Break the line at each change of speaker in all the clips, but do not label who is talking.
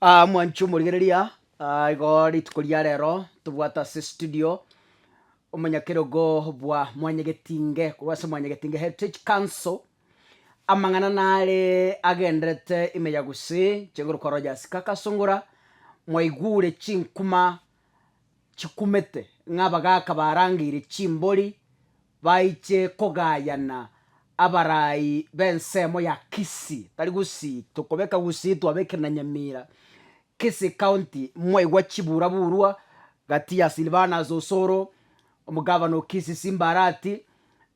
Aa mwanchi omorigereria, aa igo rituko ria rero tobwate ase studio omonyakerogo bwa Mwanyagetinge korwa ase Mwanyagetinge Heritage Council, amang'ana nare agenderete ime ya gusii, chinguru kwa Rogers Kakasungura, mwaigure chinkuma chikumete ng'a abagaka barangeire chimbori, Baiche kogayana abaraai b'ensemo ya Kisii, tari Gusii, tokobeka Gusii twabekire na Nyamira, Kisii County, mwaigwa chiburaburwa gati ya Silvanus Osoro, omogavana o Kisii Simba Arati,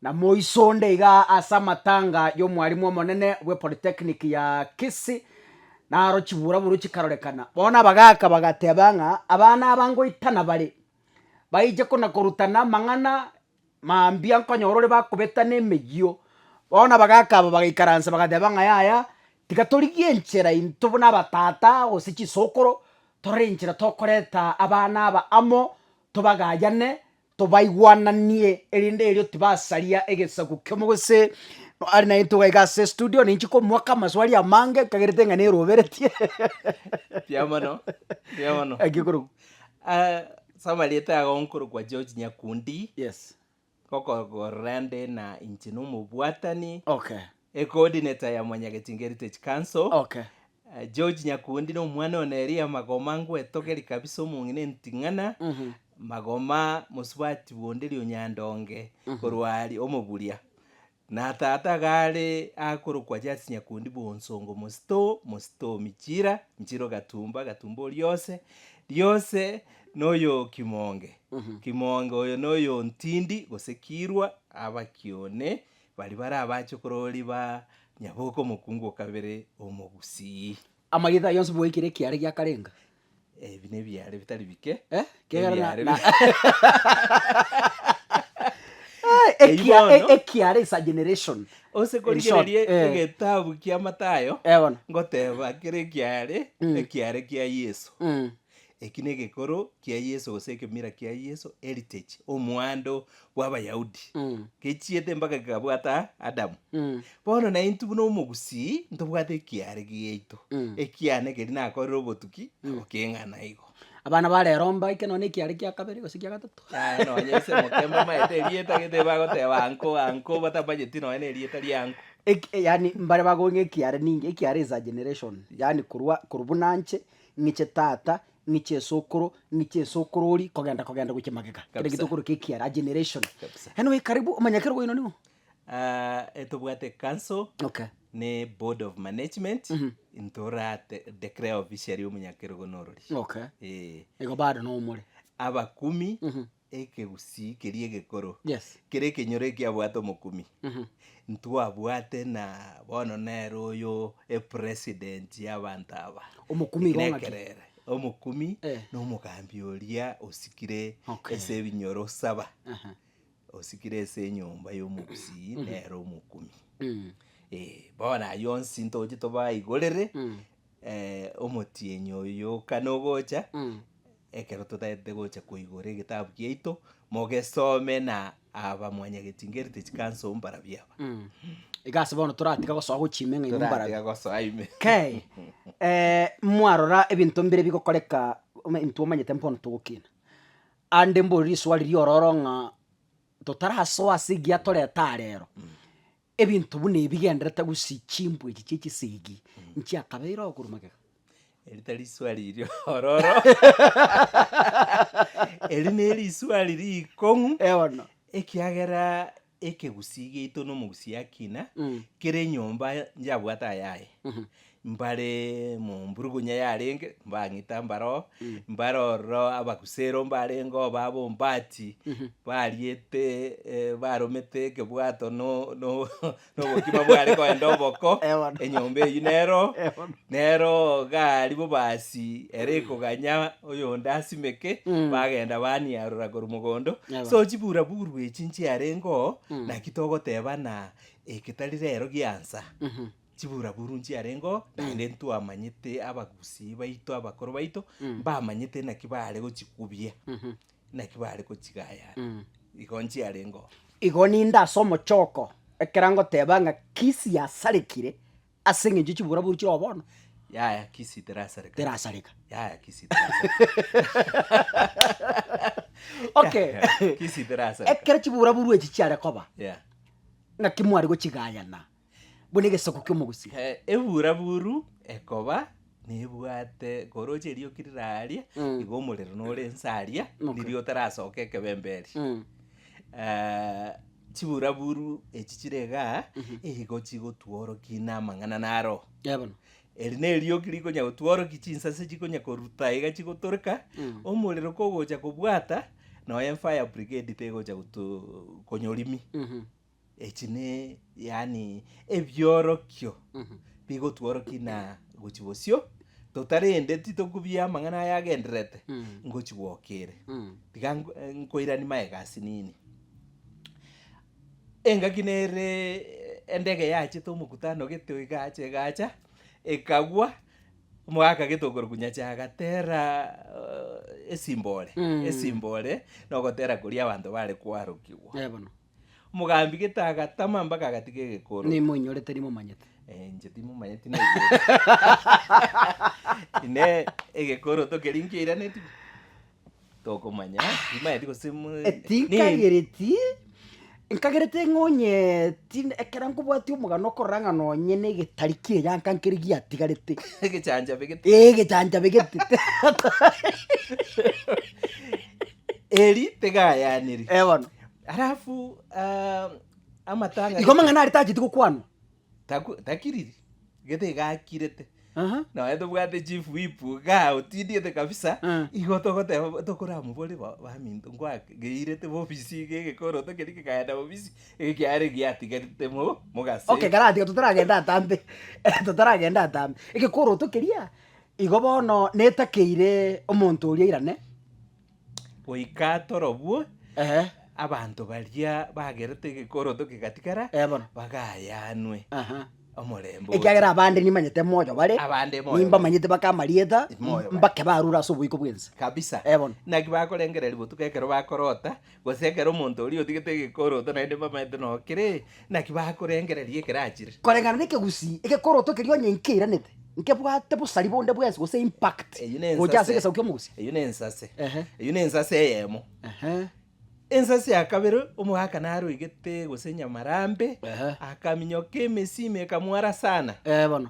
na moiso onde iga ase amatanga y'omwarimu omonene bwe Polytechnic ya Kisii, naro chiburaburwa chikarorekana. Bono abagaaka bagateba ng'a abana aba ngoitana bare, baiche kona-korutana amang'ana mambia nkonyora ore bakobetana emeyio, bono abagaka aba bagaikaransa bagateba ng'a yaya, tiga torigie enchera intwe buna abatata gose chisokoro, torore enchera tokoreta abana aba amo, tobagayane, tobaigwananie, erinde erio tibasaria egesaku kiamo gose are naintwe iga iga ase estudio ninche komoaka amaswali amange nkagerete ng'a neroberetie. Kiamono, kiamono. Ekikorokwa. Ah, soma rieta yago nkorokwa George Nyakundi yes gokokorera nde na inche nomobwatani okay ecoordinator ya Mwanyagetinga Heritage Council okay Ah, George Nyakundi na omwana one Elia Magoma ngwetogeri kabisa omong'ina enting'ana Mhm. Magoma mosubati bonde Rionyandonge korwa ari omoburia Na Tata gare akorokwa Jasi Nyakundi bw'onsongo mosito mosito michira nchiro gatumba gatumba oriose riose noyokimoonge kimoonge oyo noyontindi gose kirwa abaki one bari bare abachokoro ori ba Nyaboke omokungu okabere omogusii. Amagita ayio onsi bwaikire ekiara giakarenga. Eh, ebi nebiare bitari bike Eh, kiagera na- Ebiare na- bi- Eh, ekia- Eibono. e- ekiara is a generation ose In korigereria short, eh. egetabu kia matayo Eh, bono ngoteba kere ekiare Mm. ekiare kia yeso Mm. eki negekoro kia yeso gose ekemira kia yeso heritage omwando bw'Abayahudi, gechiete mpaka gekabwata Adamu. Bono naintwe buna omogusii ntobwate ekiaare giaito, ekiane keria nakorire obotuki na gokeng'ana igo. Abana ba rero mbaike nonye nekiaare kia kabere gose kia gatato. Aye nonye ase emokembe bamaete erieta gete bagoteba anko anko batamanyeti nonye nerieta rianko. Eki- eh, yaani mbare bagoe ng'a ekiaare ninki, ekiaare is a generation, yaani korwa korwa buna nche, ng'iche tata, Ng'iche esokoro, ng'iche esokoro oria, kogenda kogenda gochia magega. Kere Kabisa. gitokoro kia ekiara, a generation. Kabisa. Yaani oye karibu omanya kere oino nigo. Ah, etobwate council Okay. ne board of management ntora te- declare officially omonyakerogo norori Okay. Eh, Igo bado nomore. abakumi Ekegusii keria egekoro Yes. kere ekenyoro ekiabwate omokumi Mhm. ntwabwate na bono nere oyo epresident y'abanto aba Omokumi Eki igo ng'aki? nekerere omokumi Eh. na omogambi oria osikire Okay. ase ebinyoro saba Aha. osikire ase enyomba y'omogusii nere omokumi Mm. Eh, bono ayio onsi ntoche tobaigorere Mm. eh, omotienyi oyo kana ogocha Mm. Ekero totaete gocha koigora egetabu giaito, mogesome na aba mwanyagetingeri te chikansa oo mbara biaba. Iga ase bono toratiga gosoa gochia ime ng'a imwe mbara Toratiga gosoa ime. Kei, eh, mwarora ebinto mbire bigokoreka, ome- intwe omanyete mbono togokina. Ande mbore riswali riororo ng'a totarasoa ase egiatorete arero, Ebinto buna ebi bigenderete gose chimbwa echi chia chisegi nchiakabeire oo korwa magega. Eri tari iswali iria ororo. Eri neri iswali rikong'u. Eh, bono. Ekiagera ekegusii giaito na omogusii akina, kera enyomba njabwate ayaye. mbare momburugunya yarenge mbang'ita mbare oo, mbare ororo abagusero mbarenge oo baba ombati bariete eh, baromete ekebwato no- no- nobokima bware kogenda oboko, Eh, bono. enyomba eywo nero oo, Eh, bono. nero oo gari bobasi ere ekoganya oyonde asimeke Mm. bagenda baniarora korwa mogondo Eh, bono. so chiburaburu echi nchiarenge oo naki togoteba ng'a egetari rero giansa. Mhm. Chiburaburu nchiarengeo, naende ntwamanyete abagusii baito abakoro baito, mbamanyete naki baare gochikubia, naki baare gochigayana. Igo nchiarengeo. Igo ninde ase omochoko ekero ngoteba ng'a kisi yasarekire ase eng'encho ye chiburaburu chire oo bono, Yaya kisi terasareka. terasareka. Yaya kisi terasareka. Okay. Kisi terasareka. Ekero chiburaburu echi chiare koba, Yeah. naki mware gochigayana. buna egesoko ki'omogusii. Ebura buru ekoba nebwate koroche erioki riraria igo omorero nore ense aria riria otarasoka ekebembe eria chibura buru echi chire igaa igo chigotworoki na amang'ana naro eri nerioki rikonya gotworoki chinsase chikonya koruta iga chigotoreka omorero kogocha kobwata nonya fire brigade tegocha goto konya orimi. Echi ne, yaani, ebiorokio bigotworokia na gochi bosio, tota rende titokubia amang'ana aya agendererete ngochi gwoka ere. Tiga nk- eh, nkoiranie magega ase nini. Engaki nere endege yachete omokutano gete iga acha iga acha, ekagwa, omogaka gete okorokwa nyasae agatera esimbore, esimbore, nogotera koria abanto bare koarokigwa. Naye bono. Omogambi gete agatama mpaka agatiga egekoro. Nimoinyore teri momanyete. Eh, inche timomanyeti naigwete. Ine egekoro tokeri nkio iraneti. Tokomanya, timanyeti gose mo- ni- Etinkagereti nkagerete ng'onyeti ekero nkobwati omogano okorora ng'a nonye na egetari kiria gianka nkeri giatigarete. egechanchabe gete. Ee egechanchabe gete. Eri tegayaniri. Eh bono. Alafu ah, amatanga Igo amang'ana are tacheti gokwanwa. taku- takiriri gete gakirete Aha. nonya tobwate chief whip igaa otindiete kabisa Ah. igo togoteba bo- tokoramobore bo- baminto ngwakegeirete bobisi iga egekoroto keria kegakaenda bobisi ege kiare giatigarete mo mogase Okay, karatiga totaragenda atambe totaragenda atambe. Egekoroto keria, igo bono netakeire omonto oria airane. goika torobwo Ehe. abanto baria bagerete egekoroto kegatigara Eh, bono. bagayanwe Aha. omorembe oyo. ekiagera abande nimanyete moyo bare Abande moyo nimbamanyete baka amarieta Moyo bare. mbake barure ase oboiko bwense kabisa Eh, bono. naki bakorengereria botuko ekero bakorota Gose ekero omonto oria otigete egekoroto naende bamanyete nao kere, naki bakorengereria ekero achire? Koreng'ana n'ekegusii, egekoroto keria onye nkeiranete, nkebwate bosari bonde bwensi gose impact Eyio ne gocha ase ensase. egesaku ki'omogusi. Eyio ne ensase. Ehe. Eyio ne ensase eyemo. Ehe. Ensase ya kabere, omogaka naroigete gose nyamarambe, Ehe. akaminyoka emesimi ekamwara sana. Ee bono.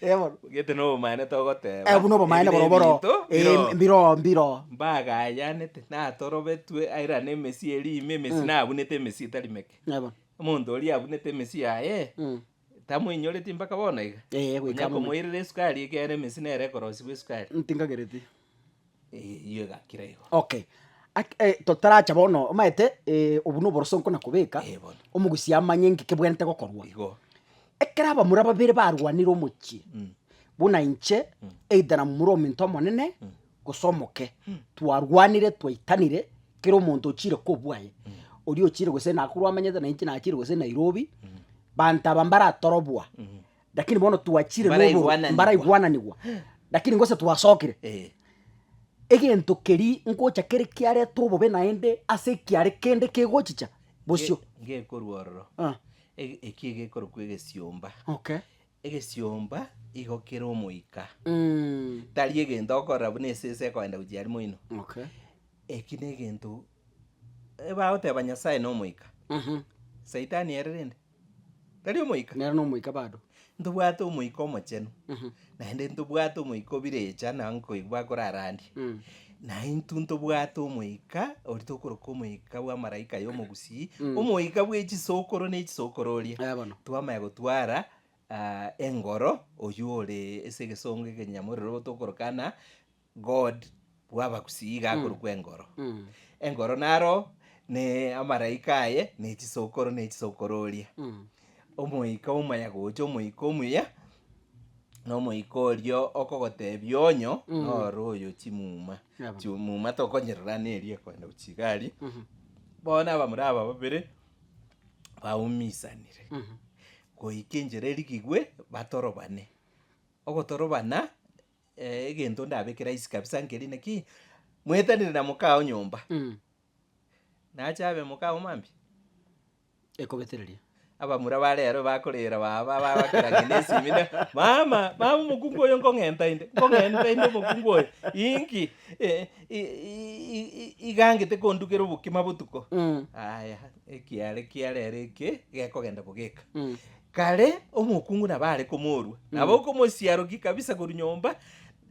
Ebono. Gete nobomaene togoteba. Ebu nobomaene boro boro. Ebinto Eh, biro. mbiro mbiro. Mbagayanete natorobetwe aira nemesie eri ime emesi Mm. nabunete emesi etari meke. Ebono. Omonto oria abunete emesi yaye Mm. tamoinyoreti mpaka bono iga. Eh, goika Onye mono. komoirera esukari ekere emesi nere ekorosiwa esukari. Ntinkagereti. Eyio egakira igo. Okay, ak- eh, totaracha bono omaete eh, obwo na oboroso nkona kobeka, Eh, bono. omogusi amanye ng'iki kebwenerete gokorwa. Igo. Ekero abamura babere barwanire omochie, Mm. buna inche, either na momura omento omonene, gose omoke, twarwanire twaitanire, kera omonto ochire kobua aye, oria ochire gose Nakuru amanyete na inche nachire gose Nairobi, banto aba mbaratoroboa, Lakini bono twachire noboru- Mbaraigwananigwa. mbaraigwananigwa lakini gose twasokire Eh, egento keria ngocha kere kiareta obobe naende ase ekiare kende kegochicha bosio nge- ngekorwa ororo Ah, Ege- eki egekorokwa egesiomba okay egesiomba igo kere omoika Mm, tari egento okorora buna esese ekoenda gochia aria moino okay eki na egento ebagoteba nyasae na omoika Mhm. saitani ere rende Tari omoika? Nere nomoika bado. Ntobwate omoika omochenu, naende ntobwate omoika obire echa na nkoigwa bakorarandia. Mm. Na intwe ntobwate omoika ori tokoroka omoika bw'amaraika y'omogusii, omoika bwe chisokoro ne chisokoro oria. Eh, bono. Twamanya gotwara ah, engoro oyio ore ase egesongo ekenyamorero tokoroka na God bw'abagusii igakorokwa engoro. Engoro naro ne amaraika aye ne chisokoro ne chisokoro oria. Omoika omaya gocha omoika omuya, na omoika oria okogotebia onyo nore oyo chimuma. Yabo. Chimuma tokonyerora neri ekoenda gochia igari. Bono abamura aba babere baumisanire goika enchera erigigwe batorobane. Ogotorobana. Eh, egento ndabeke rahisi kabisa nkeri naki mwetanire na mokao nyomba Mm. nache abe mokao mambia Ekobetereria. abamura ba rero bakorera baba bagokera ngende esimi ne mama mama omokungu oyo nkong'enta inde nkong'enta inde omokungu oyo inki eh, i- i- i- i- igangete kondugera obokima botuko Mm. aya ekiare kiarero eke gekogenda bogeka Mm. Kare omokungu nabo are komorua, nabo okomosiarokia kabisa korwa nyomba,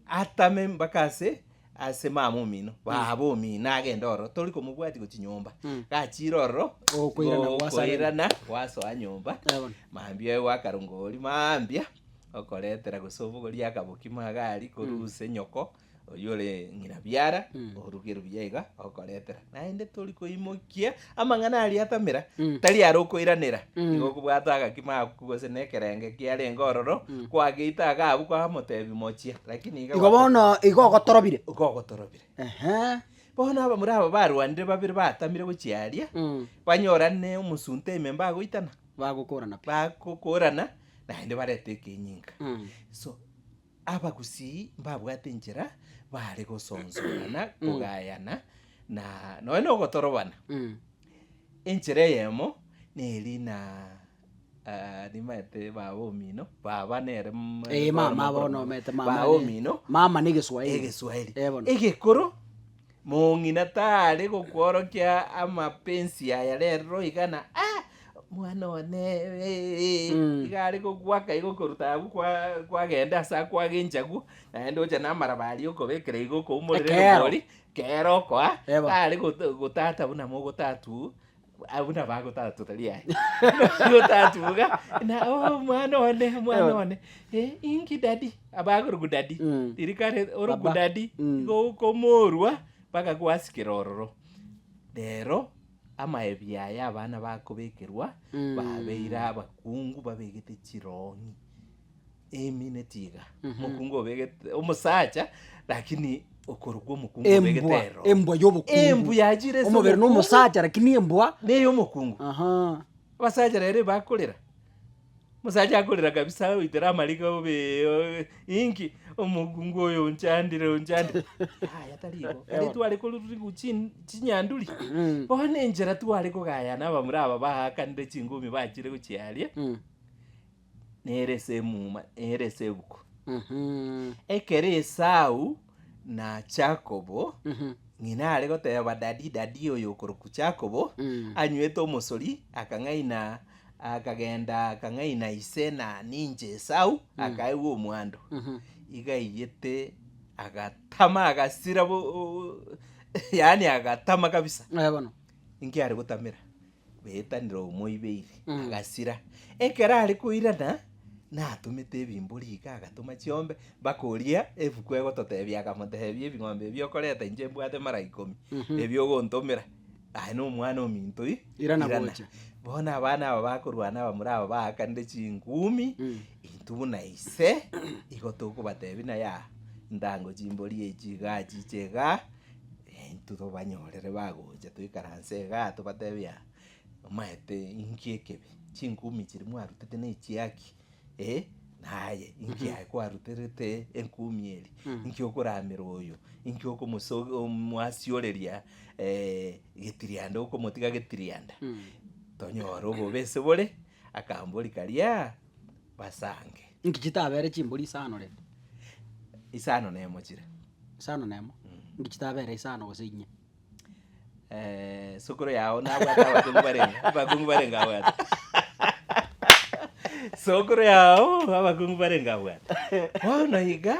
atame mpaka ase ase mama omino, baba omino agende ororo, tori komobwatia gochia nyomba. Gachiire ororo, Okoirana gokoirana gwasoreng'ana. gwasoa nyomba, Bono. mambia oye gwakarunga oria mambia, okoretera gose obogoria akaboki magari korwa ase nyoko. Oyio ore ng'ina biara, oruge ruya iga okoretera. Naende tori koimokia amang'ana aria atamera, tari are okoiranera. Igo okobwata agakima aku gose na ekerenge kiarenge ororo, kwageita iga abwo kwamotebia mochia, lakini iga Igo bono igo ogotorobire. iga ogotorobire. Ehe. Bono abamura aba barwanire babere batamire gochia aria, Mm. banyorane omosunte ime mbagoitana, Bagokorana pi. bagokorana, naende barete ekenyinga. Mm. So. Abagusii mbabwate enchera baare gosonsomana, kogayana, na nonya nogotorobana. Enchera eyemo neri na ah, nimaete baba omino, baba nere mm, Ee, bono mama mokoro bono mono. omete mama Baba ere- omino, mama na egeswaeri. egeswaeri Ee, bono. egekoro. Mong'ina tare gokworokia amapensi aya rero iga na ah, mwana one eh, iga are gogwaka iga okoruta agwo kwa- kwagenda ase akwage enchagu, naende oche namaraba aria okobekera iga okoumorera Ekeero. erobori, kero okoa, Eba. tare goto- gotata buna mogotatwu, Ah, buna bagotatuka riaye gotatuka na oh, omwana one omwana one Eh, inki dadi abagorogu dadi Mm. ririkare orogu Baba. dadi Mm. gokomorwa mpaka gwasikera ororo rero amaebi aya abana bakobekerwa Mm. babeire abakungu babegete chirongi Emi netiga omokungu obegete omosacha lakini okorokwa omokungu obegete Embwa, ero. embwa y'obokungu. Embwa yachire ase Omobere omokungu. nomosacha lakini embwa. Neye omokungu. Aha. Abasacha rero ebakorera. Omosacha akorera kabisa oitera amariga obe obe inki omokungu oyo onchandire onchandire. Yaya tari igo. Kare tware korurigwa chin chinyanduri. Bono enchera tware kogayana abamura aba baakanire chingumi bachire gochiaria. nere ase emuma, nere ase ebuku. Mhm. Ekero Esau na Jakobo, Mhm. ng'ina are goteba dadi dadi oyo okorokwa Jakobo, Mm. anywete omosori, akang'aina akagenda akang'aina ise na ninche Esau, akaegwa omwando. Mhm. Igaiyete agatama agasira bo- o- o- yaani agatama kabisa, Eh, bono. inki are gotamera? betanire omoibeiri, agasira. Ekero are koirana, natomete ebimbori iga, agatoma chiombe, mpaka oria ebuku egototebia agamotebia, ebing'ombe ebi okoreta inche mbwate mara ikomi, ebi ogontomera, aye na omwana ominto ira, Irana gocha. Bono abana aba bakorwana abamura aba baakanire chingumi, intwe buna ise, igo tokobatebia naye aa, intango chimbori echi igaa, chiche igaa. Intwe tobanyorere bagocha toikaranse igaa tobatebie aa, omaete inki ekebe, chingumi chiria mwarutete na echia ki? eh, naye inki aye kwaruterete engumi eria, inki okoramera oyo, inki okomosoki omoasioreria getirianda okomotiga getirianda, tonyore obobe ase bore. Akambori karia basange. Inki chitabere chimbori isano rende? Isano nemo chire. Isano nemo? Mm. Inki chitabere isano gose inye? Eh, sokoro yao nabwate abakungu barenge, abakungu barenge abwate. Sokoro yao abakungu barenge abwate. Bono iga.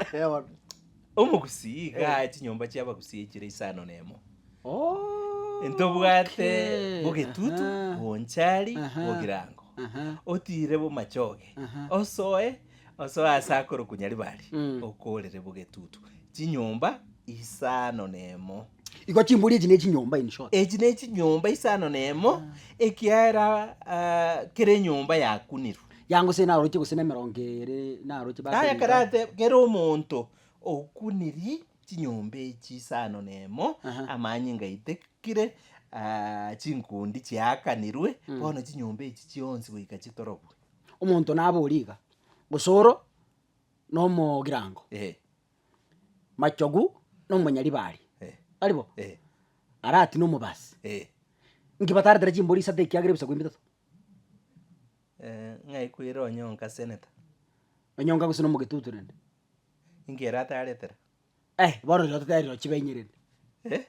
Omogusii iga aye chinyomba chi'abagusii enchera isano nemo. Okay. Ntobwate bogetutu, Aha. bonchari, Aha. bogirango. Aha. Otire bomachoge, Aha. osoe, osoe ase akoro konya ribari, Mm. okorere bogetutu. Chinyomba isano nemo. Igo chimburi echi ne chinyomba in short. Echi ne chinyomba isano nemo, ekiaera ah, kera enyomba yakunirwe. Yango se naroche gose nemerongo ere naroche base Naye ekero ribaga. ateb, kera omonto okunirie chinyomba echi isano nemo, Aha. amanyinga aitekire, ah, chinkundi chiakanirwe, bono chinyomba echi chionsi goika chitorobwe. Omonto nabe origa, gose oro nomogirango, Eh, machogu na omonyaribari, eh, aribo? eh, Aratine omobasi. eh. Inki bataretera chimbori isato ekiagera ebisaku ebi bitato? Ng'aikwire onye onka seneta. Onye onka gose nomogetutu rende. Inki ere ataretera. Eh bono rirorio totebe riro chibe inye rende. Eh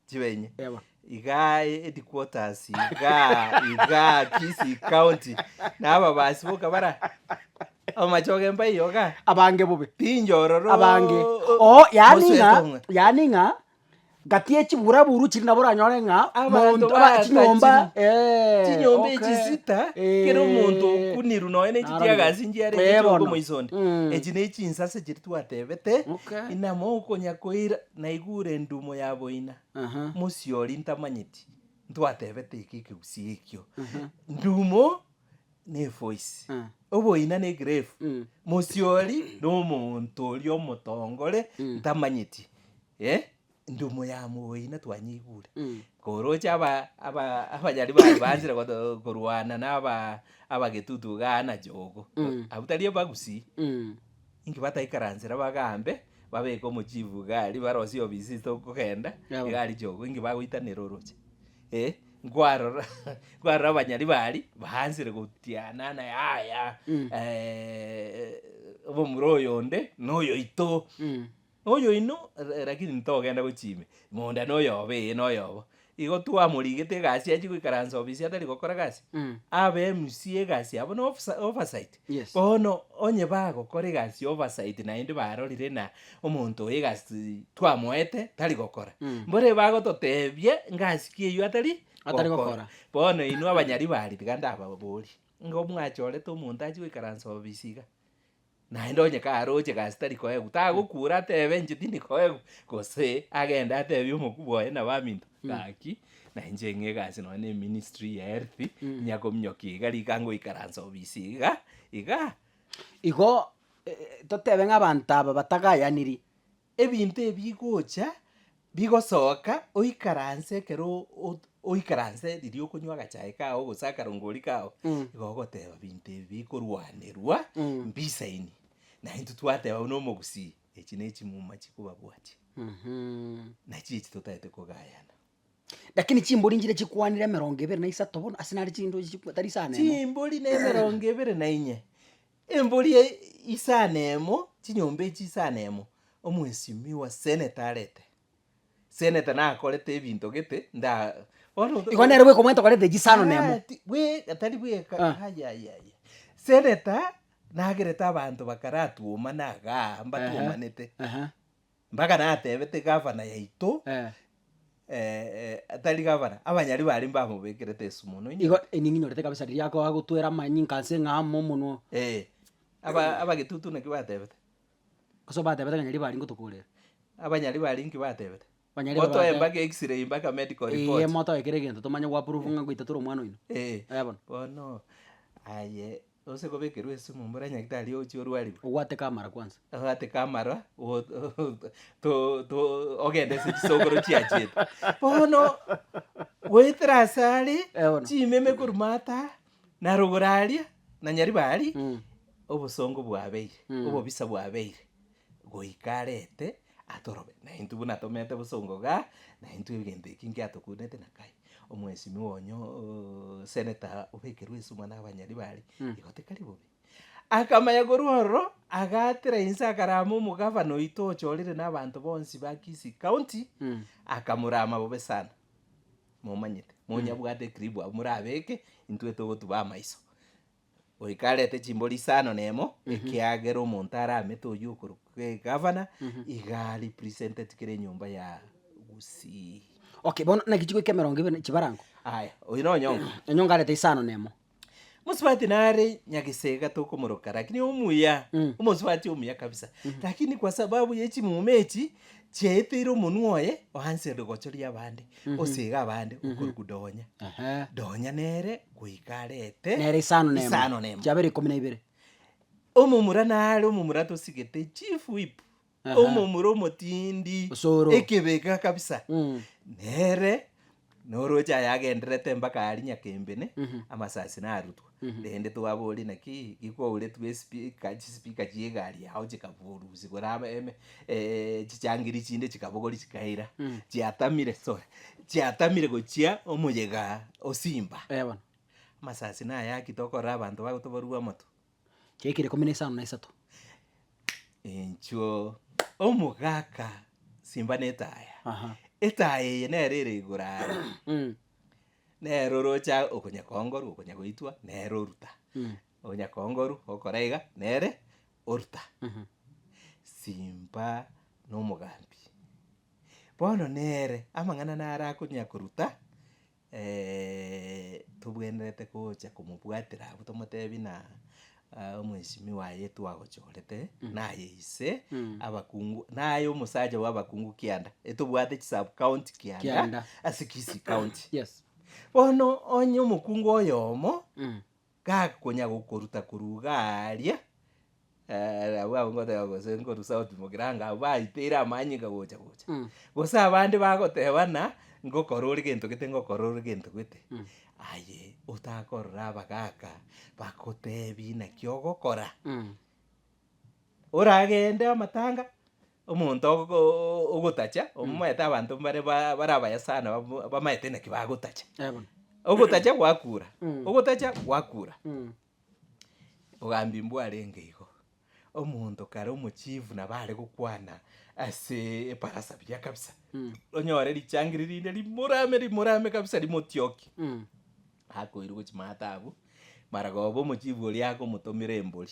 chibe inye. Eba. Igaa headquarters igaa igaa Kisii county na ababasi boka bara amachoge mbaiyo igaa. Abange bobe. Pinyororo. Abange. Oo yaani ng'a yaani ng'a Gati ye chiburaburu chiri nabo oranyore ng'a Abanto monto- aba- chinyomba baakachire. eh, chinyomba okay. echisita Eh, kera omonto okunirwe nonya ne chitiagasi narabi. nchia arenge Eh, chiongo bono. moisonia Mm. echi ne chinsase chiri twatebete Okay. inama okonya koira naigure endumo ya boina Aha. mosiori ntamanyeti ntwatebete eke ekegusii ekio ndumo nefoisi, Eh. oboina negrave, Mm. mosiori nomonto oria omotongore Mm. ntamanyeti, eh, ndumo ya moboina twanyeigure. Mm. Koroche aba- aba- abanyari baye banchire goto- korwana na aba- abagetutu iga ana chogo, Mm. abwo tari abagusii, Mm. inki bataikaransera bagambe, babeke omochifu iga aria barosie obisii tokogenda, Yabo. iga aria chogo, inki bagoitanera oroche. Eh, nkwarora nkwarora abanyari baaria baansire gotiana na yaya Mm. eh, omomura oyonde noyoito Mm. oyoino ra- rakini ntogenda gochia ime monda noyoba eye noyoba igo twamorigete egasi achie goikaransa obisi atari gokora gasi Mm. abe MC egasi yabo na ofisa- oversight Bono onye bagokora egasi y'obosaiti naende barorire ng'a omonto oyo egasi twamoete tari gokora, mbore bagototebia ng'a ase ki eyio atari Atari gokora. Bono inwe abanyaribari tiga ndababorie, ng'a omwachorete omonto achie goikaransa obisi iga, naende onye karoche egasi tari koegwa, tagokuura atebe inche tindi koegwa? Gose agende atebie omokubwa oye na baminto, gaki Na inche ng'a egasi nonya ne ministry ya health, inya kominyokia iga rika ngoikaransa obisi iga, iga. Igo, eh, totebe ng'a abanto aba batagayaniri, ebinto ebi bigocha, bigosoka, oikaranse ekero o- ot- oikaranse riria okonywa agachae kao gose akarongori kao, Mm. igo ogoteba binto ebi bikorwanerwa, Mm. mbisaini. Na intwe twateba buna omogusii, Echi nechimuma chikobabwatia, nachiria echi totaete kogayana. Lakini chimbori nchiria chikwanire emerongo ebere na isato bono, ase nare chindochi chikwa tari isano emo. Chimbori na emerongo ebere na inye, embori isano emo, chinyomba echi isano emo, omwesimi wa seneta arete. Seneta nakorete ebinto gete nda bono oto- Igo nere bweka omwete okorete chisano nemo. Ah, ti- bweka tari bweka Ah. ayayaya seneta nagerete abanto bakaratuoma na agaa mbatuomanete Aha. mpaka natebete gavana yaito Eh. eh, eh, tari gavana abanyari bare mbamobekerete esumu mono Igo inyote ening'inorete kabisa riria akoa gotwera amanyinga ase ng'a amo omonwa oo. Eh, aba abagetutu naki batebete. Ase obatebete ng'a nyaribo aria ngotokorere. Abanyari baria inki batebete? Banyari baria Motoe batebe- mpaka x-ray mpaka medical Eye report. motoe kera egento tomanye gwa prove ng'a ngoita tore omwana oino. Eh, Eh, bono. bono aye ose kobekerwa esumu mbore nyagitari ochia orwariwe, Obwate kamara kwansa. obwate kamaro o- o- to- to- ogende ase chisokoro chiachete. Bono goetera asare, Eh, bono. chimeme korwa mata, Na rogora aria, na nyariba aria, obosongo bwabeire, obobisa bwabeire, goika arete atorobe. Na intwe buna tomete bosongo igaa, na intwe egento ekio inki atokunete na kaye. Omwesinwa onya ooh senator obekerwe esuguma na abanyariba aria, igo tikari bobe. Akamanya korwa ororo, agaatera inse akarama omogavana oito ochorire na abanto bonsi ba Kisii County, akamorama bobe sana. momanyete, monyabwate ekribu abwo morabeke, intwe togotuba amaiso. Goika arete chimbori isano nemo, ekiagera omonto aramete oyio okorokwa egavana, iga arepresenteti kera enyomba ya Gusii. Okay, bono naki chigoika emerongo ebere chibarango? Aya, oyio na Onyongo. Onyongo arete isano nemo. Mosubati nare nyagesega tokomoroka lakini omuya Mm. omosubati omuya kabisa lakini kwa sababu ye chimuma echi chiaeteire omonwa oye oansete gochoria abande osega abande okoruku donya Ehe. donya nere goika arete Nere isano nemo. isano nemo. Chiabera ikomi na ibere. omomura nare omomura tosigete chief whip Omomura omotindi, Osoro. ekebega kabisa, Mm. nere noroche aye agenderete mpaka aria nyakembene, amasasi narutwa. Rende twabori naki gikouretwe espika, chisipika chia egari yao chikaburusi gora ame- eme eh, chichangiri chinde chikabogori chikaira, chiatamire, sorry, chiatamire gochia omoyega o Simba. Eh, bono. Amasasi nayaki tokorora abanto bagotoborua amato. Chiaikire ikomi na isano na isato. Enchuo omogaka simba netaya Aha. etaya eye nero ere igoro are Mm. nero orocha okonya kongoru okonya goitwa nero oruta Mm. onya kongoru okora iga nere oruta Mhm. simba nomogambi bono nere amang'ana naro akonya koruta tobwenerete gocha komobwatera abwo tomotebi ng'a omweshimiwa aye twagochorete, naye ise abakungu, naye omosacha bw'abakungu kianda, etobwate chisub county kianda Kianda. ase Kisii county. Yes. Bono onye omokungu oyomo. gakonya gokoruta korwa iga aaria, abwo abwo ngoteba gose nkoru south mogirango anga abwo baiteire amanyinga gocha gocha, gose abande bagoteba ng'a ngokora ore gento gete ngokora ore gento gete, aye otakorora abagaka bagotebi naki ogokora, Oragende amatanga, omonto ogo- o- ogotacha, omoete abanto mbare ba- bare abaye sana bab- bamaete naki bagotacha. Eh, bono. Ogotacha gwakura, Mm. ogotacha gwakura, Mm. obogambi mbwarenge igo. Omonto kare omochief nabo are gokwana ase ebarasa buya kabisa, Mm. onyore richangiri rinde rimorame rimorame kabisa rimotiokie. Mm. Akoirwe gochia maata abwo, maragoba omochief oria agomotomera embori,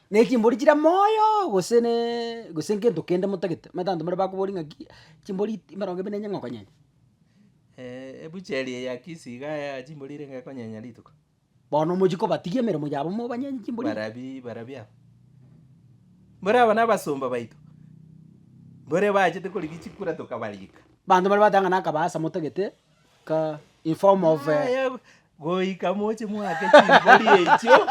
Nechimbori chire moyo gose ne gose ngento kende motagete, omanyete abanto mbare bakoboria ng'aki chimbori iti mbarongo ebi nenyeng'a okonyenya. ebucheri eye ya kisii iga ya chimbori erenge ekonyenya rituko. Bono mochie kobatigia emeremo yabo mobanyenye chimbori. Barabi barabi aba. Mbore aba na abasomba baito, mbore bachete korigia chikura tokabarika. Abanto mbare bateba ng'a na akabaasa motagete. ka in form of a Aya, goika moche mwake chimbori echio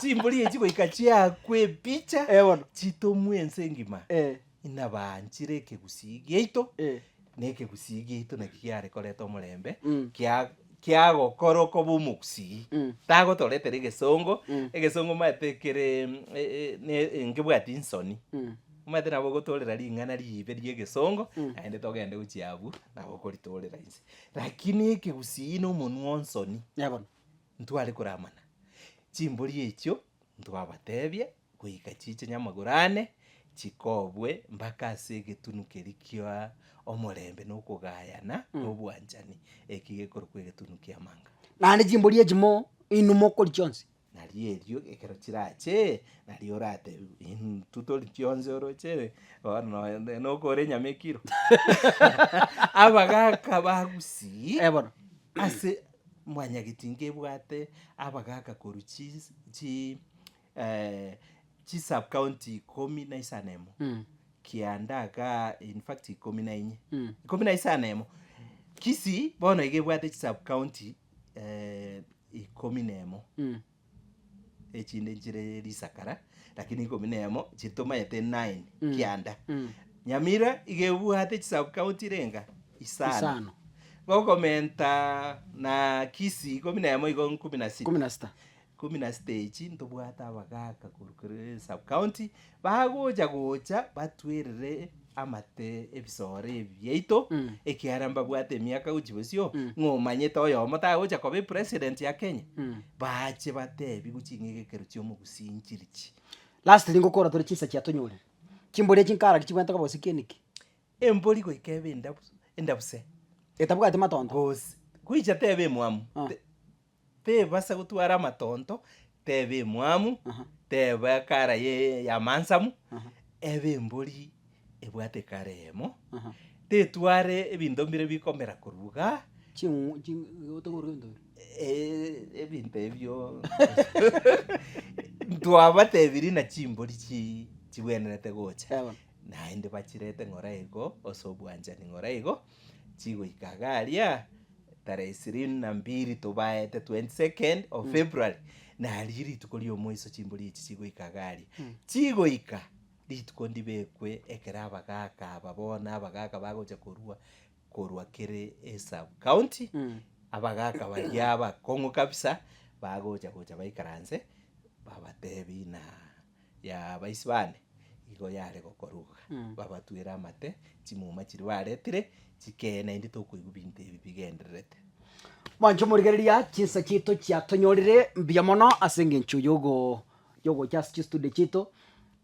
chimbori echio goika chiakwe epicha eh bono chitomwe ense engima eh inabaanchire ekegusii giaito eh na ekegusii giaito naki giare koreta omorembe Mm. kia kiagokora okoba omogusii Mm. tagotoretera egesongo Mm. egesongo omanyete kere e- e- ne- nkebwati nsoni. mm. Omanyete nabo ogotoorera ring'ana riibe ri'egesongo, naende togende gochia abwo nabo okoritoorera inse. Lakini ekegusii na omonwa o nsoni Ee bono. ntware koramana. Chimbori echio ntwabateebia goika chiiche nyamagoro aane, chikobwe mpaka ase egetunu keria kia omorembe na okogayana na obwanchani, eki gekorokwa egetunu ki'amanga. Naende chimbori echi mo inwe mokori chionsi. Na ri'erio ekero chirache, nario oratebiwe, Intwe tori chionsi oroche, bono nonya ne- nokore enyama ekiro. Abagaka bagusii Eh, bono. ase mwanyagetinga ebwate abagaka korwa chis- chi eh, chi sub county ikomi na isano emo, Mm. Kianda, Gaa, in fact ikomi na inye, Mm. ikomi na isano emo. Kisii bono iga ebwate chi sub county. eh, ikomi nemo Mm. echinde nchire risakara lakini ikomi nemo chiri tomayete nine Mm. kianda Mm. nyamira igebwate chisub county renga isano Isano. gokomenta na kisii ikomi nemo igo nkumi na sita Kumi na sita. Ikomi na sita echi ntobwate abagaaka korwa kere sub county bagocha gocha batwerere amate ebisoro ebi biaito Mm. ekiara mbabwate emiaka gochi bosio Mm. ng'a omanyete oyomo tagocha koba epresident ya kenya Mm. bache batebi gochi ng'egekero chi'omogusi nchiri chi Lastly ngokora tore chinsa chia tonyorire, chimbori echi nkaraki chibwate koba gose kieni ki? embori goika ebe endabu endabuse Etabwati matondo? gose goicha tebe emwamu Ah. te- tebasa gotwara amatonto, tebe emwamu, Aha. tebe ekara ye- y'amansamu, Aha. ebe embori ebwate ekara eyemo, Aha. tetware ebinto mbire bikomera korwa iga, Ching'u- ching- otokorwa ebinto bire. eh, ebinto ebio ntwabatebirie na chimbori chi- chigwenerete gocha, Egono. naende bachirete ng'ora igo ase obwanchani ng'ora igo, chigoika iga aria tarehe ishirini na mbili tobaete 22nd of February nario rituko riomoiso chimbori echi chigoika iga aria chigoika rituko ndibekwe ekero abagaka aba bono abagaka bagocha korua korwa kere esub county abagaka baria abakong'u kabisa bagocha gocha baikaranse babatebi ng'a y'Abaisbaali igo yare gokoruga, babatwere amate, chimuma chiria baretire chikee, naende tokoigwa binto ebi bigendererete. Mwanche omorigereria, chinsa chiaito chiatonyorire mbuya mono ase engencho yogo yogocha ase chistudio chiaito,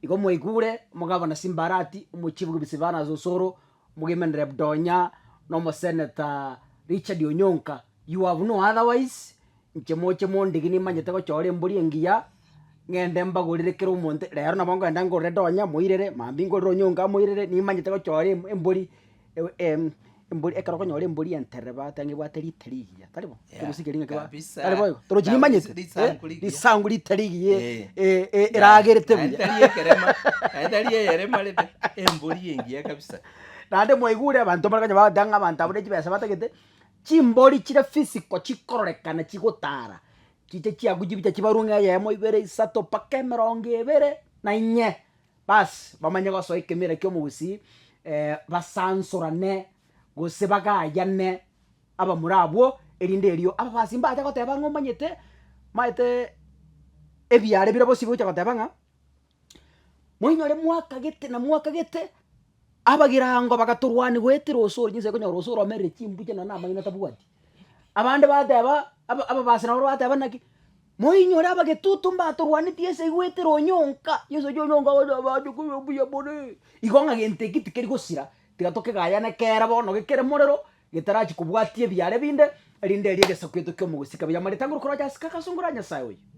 igo mwaigure mogabana simbarati, omochibuki bwe Silvanus Osoro, omogendereri Budonya, na omosenator Richard Onyonka, You have no otherwise, inche moche mondigi nimanyete gochora embori engiya, ng'ende mbagorere kera omonto, rero nabo nkogenda ngorere donya moirere, mambia ngorere onyonga amoirere, nimanyete gochora em- embori ewe em- embori ekero okonyora embori enterere ba taiga ebwate rita rigiya, tari bo? Yeah, Ekegusu keria ng'ake ba- kabisa. tari boigo? Torochi Nabo nimanyete, ris- risangu eh, rigiya. risangu rita rigiya Eh. eh, eh, eragerete Naende buya. tari ekerema, naende tari eyerema rende, embori engiya kabisa. Naende mwaigure abanto bakonya bagoteba ng'a abanto abwo ne chibesa batagete. Chimbori chire physical chikororekana chigotara chiche chiaku chibicha chibarwe ng'a eyemo ibere isato mpaka emerongo ebere na inye baas bamanye gosoa ekemera kia omogusii basansorane gose bagayane abamura abwo erinde erio ababasi mbacha goteba ng'a omanyete maete ebiara bire bosio bigocha goteba ng'a. moinyore mwakagete na mwakagete, abagirango bagatorwania goetera osore, chinsa ekonyora osore omerire chimbucha nonya na amaino tabwati. Abande bateba, aba- ababase nabo bateba naki, moinyore abagetutu mbatorwanetie ase goetera onyonka, chinsa echio onyonka agocha abe ache koba omuya more, igo ng'a gento eki tikeri gosira, tiga tokegayane kere bono gekere morero, getarachi kobwatia ebiara ebinde, erinde erio egesaku gito ki'omogusii kabere. Amareta ngorokoroche ase kaka asongora Nyasae oyo.